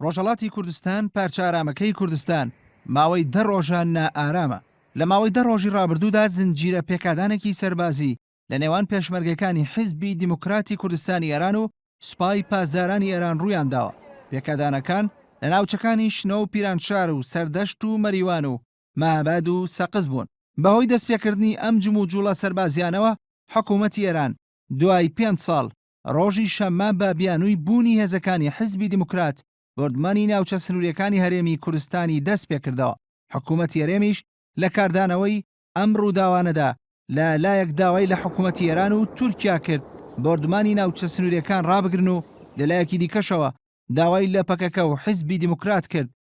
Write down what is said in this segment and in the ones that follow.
ڕۆژهەڵاتی کوردستان، پارچە ئارامەکەی کوردستان ماوەی دە ڕۆژە نائارامە. لە ماوەی دە ڕۆژی ڕابردوودا زنجیرە پێکادانێکی سەربازی لە نێوان پێشمەرگەکانی حیزبی دیموکراتی کوردستانی ئێران و سوپای پاسدارانی ئێران ڕوویان داوە. پێکادانەکان لە ناوچەکانی شنۆ و پیرانشار و سەردەشت و مەریوان و مەهاباد و سەقز بوون. بەهۆی دەستپێکردنی ئەم جموجوڵە سەربازییانەوە حکوومەتی ئێران دوای پێنج ساڵ ڕۆژی شەممە بە بیانووی بوونی هێزەکانی حیزبی دیموکرات بۆردمانی ناوچە سنووریەکانی هەرێمی کورستانی دەست پێکردەوە، حکوومەتی هەرێمیش لە کاردانەوەی ئەم ڕووداوانەدا لە لایەک داوای لە حکوومەتی ئێران و تورکیا کرد بۆردمانی ناوچە سنووریەکان ڕابگرن و لە لایەکی دیکەشەوە داوای لە پەکەکە و حیزبی دیموکرات کرد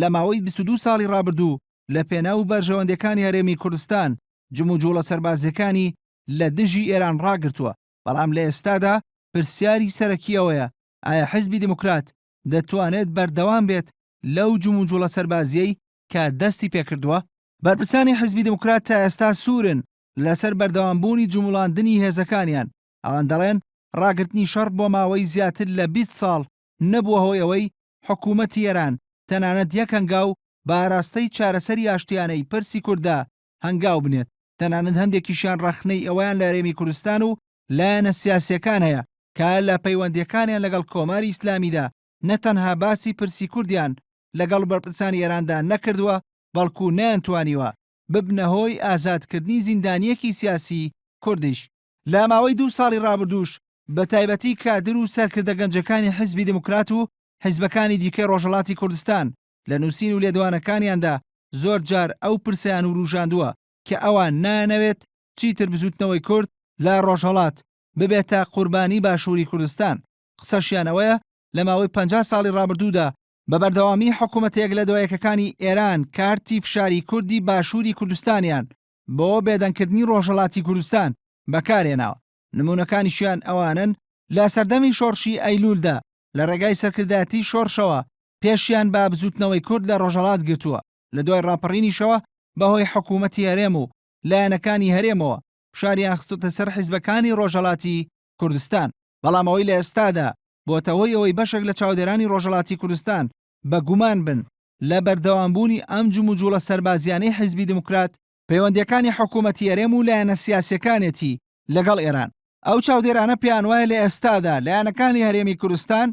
لە ماوەی بیست و دوو ساڵی ڕابردوو لە پێناو بەرژەوەندیەکانی هەرێمی کوردستان جموجوڵە سەربازیەکانی لە دژی ئێران ڕاگرتووە، بەڵام لە ئێستادا پرسیاری سەرەکی ئەوەیە ئایا حیزبی دیموکرات دەتوانێت بەردەوام بێت لەو جموجوڵە سەربازیەی کە دەستی پێکردووە؟ بەرپرسانی حیزبی دیموکرات تا ئێستا سوورن لەسەر بەردەوام بوونی جموڵاندنی هێزەکانیان، ئەوان دەڵێن ڕاگرتنی شەڕ بۆ ماوەی زیاتر لە بیست ساڵ نەبووە هۆی ئەوەی حکوومەتی ئێران تەنانەت یەک هەنگاو بە ئاراستەی چارەسەری ئاشتییانەی پرسی کورددا هەنگاو بنێت، تەنانەت هەندێکیشیان ڕەخنەی ئەوەیان لە هەرێمی کوردستان و لایەنە سیاسییەکان هەیە کە لە پەیوەندییەکانیان لەگەڵ کۆماری ئیسلامیدا نە تەنها باسی پرسی کوردیان لەگەڵ بەرپرسانی ئێراندا نەکردووە بەڵکوو نەیانتوانیوە ببنە هۆی ئازادکردنی زیندانییەکی سیاسیی کوردیش. لە ماوەی دوو ساڵی ڕابردووش بە تایبەتی کادر و سەرکردە گەنجەکانی حیزبی دێموکرات و حیزبەکانی دیکەی ڕۆژهەڵاتی کوردستان لە نووسین و لێدوانەکانیاندا زۆر جار ئەو پرسەیان ورووژاندووە کە ئەوان نایانەوێت چیتر بزووتنەوەی کورد لە ڕۆژهەڵات ببێتە قوربانیی باشووری کوردستان. قسەشیان ئەوەیە لە ماوەی پەنجا ساڵی ڕابردوودا بە بەردەوامی حکوومەتە یەک لە دوای یەکەکانی ئێران کارتی فشاری کوردی باشووری کوردستانیان بۆ بێدەنگکردنی ڕۆژهەڵاتی کوردستان بەکارهێناوە، نموونەکانیشیان ئەوانەن لە سەردەمی شۆڕشی ئەیلوولدا لە ڕێگای سەرکردایەتی شۆڕشەوە پێشیان بە بزووتنەوەی کورد لە ڕۆژهەڵات گرتووە، لە دوای ڕاپەڕینیشەوە بەهۆی حکوومەتی هەرێم و لایەنەکانی هەرێمەوە فشاریان خستۆتە سەر حیزبەکانی ڕۆژهەڵاتی کوردستان. بەڵام ئەوەی لە ئێستادا بۆتە هۆی ئەوەی بەشێک لە چاودێرانی ڕۆژهەڵاتی کوردستان بە گومان بن لە بەردەوامبوونی ئەم جموجوڵە سەربازییانەی حیزبی دێموکرات، پەیوەندییەکانی حکوومەتی هەرێم و لایەنە سیاسییەکانێتی لەگەڵ ئێران. ئەو چاودێرانە پێیانوایە لە ئێستادا لایەنەکانی هەرێمی کوردستان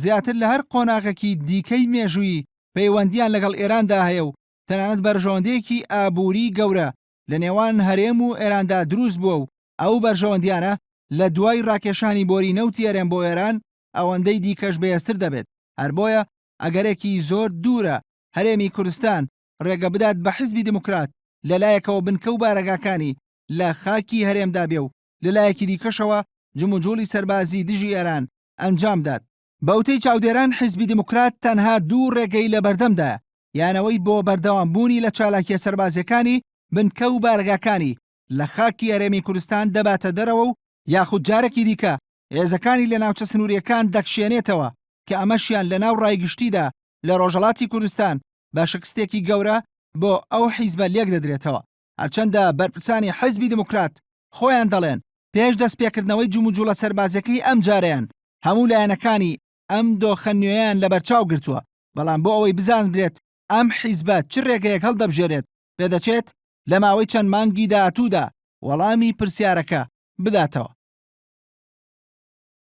زیاتر لە هەر قۆناغێکی دیکەی مێژوویی پەیوەندییان لەگەڵ ئێراندا هەیە و تەنانەت بەرژەوەندییەکی ئابووریی گەورە لە نێوان هەرێم و ئێراندا دروست بووە و ئەو بەرژەوەندییانە لە دوای ڕاکێشانی بۆری نەوتی هەرێم بۆ ئێران ئەوەندەی دیکەش بەێزتر دەبێت، هەر بۆیە ئەگەرێکی زۆر دوورە هەرێمی کوردستان رێگە بدات بە حیزبی دێموکرات لە لایەکەوە بنکە و بارەگاکانی لە خاکی هەرێمدا بێ و لە لایەکی دیکەشەوە جموجوڵی سەربازی دژی ئێران ئەنجام بدات. بە وتەی چاودێران حیزبی دێموکرات تەنها دوو رێگەی لە بەردەمدایە، یان ئەوەی بۆ بەردەوامبوونی لە چالاکییە سەربازییەکانی بنکە و بارەگاکانی لە خاکی هەرێمی کورستان دەباتە دەرەوە و یاخود جارەکی دیکە هێزەکانی لە ناوچە سنوورییەکان دەکشێنێتەوە کە ئەمەشیان لەناو ڕای گشتیدا لە ڕۆژەڵاتی کوردستان بە شکستێکی گەورە بۆ ئەو حیزبە لێک دەدرێتەوە هەرچەندە بەرپرسانی حیزبی دیموکرات خۆیان دەڵێن پێش دەستپێکردنەوەی جموجوڵە سەربازەکەی ئەم جارەیان هەموو لایەنەکانی ئەم دۆخە نوێیان لەبەرچاو گرتووە بەڵام بۆ ئەوەی بزاندرێت ئەم حیزبە چ رێگەیەک هەڵدەبژێرێت، پێدەچێت لە ماوەی چەند مانگی داهاتوودا وەڵامی پرسیارەکە بداتەوە.